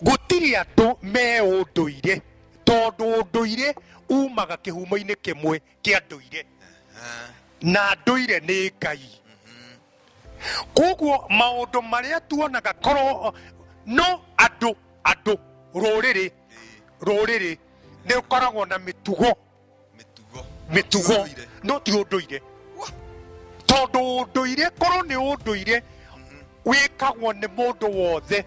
Gũtirĩ andũ me ũndũire tondũ ũndũire umaga kĩhumo-inĩ kĩmwe kĩa ndũire na ndũire nĩ Ngai. Koguo maũndũ marĩa tuonaga korwo no andũ andũ rũrĩrĩ rũrĩrĩ nĩ rũkoragwo na mĩtugo mitugo no ti unduire tondu unduire korwo ni unduire wikagwo ni mundu wothe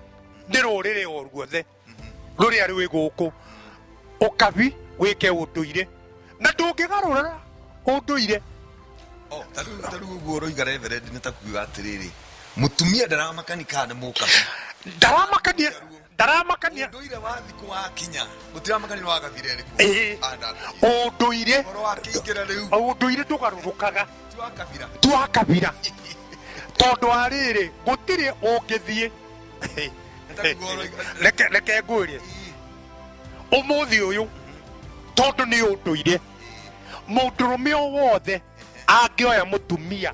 ni ruriri o ruothe ruria rwi guku ukabi wike unduire na ndungigarura unduire Oh, ta rĩu ta rĩu ũguo ũroiga reverendi nĩ ta kuga atĩrĩrĩ mũtumia ndaramakani kana nĩ mũkabi ndaramakania ndaramakania ndũire wa thikũ wakinya gũtiramakania nĩ wagathire rĩku Ĩĩ. ũndũire ũhoro wa kĩingĩra rĩu ũndũire ndũgarũrũkaga ti wa kabira twa kabira tondũ wa rĩrĩ gũtirĩ ũngĩthiĩ reke reke ngwĩrie ũmũthĩ ũyũ tondũ nĩ ũndũire mũndũrũme o wothe angĩoya mũtumia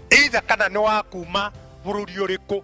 either kana nĩ wa kuma bũrũri ũrĩkũ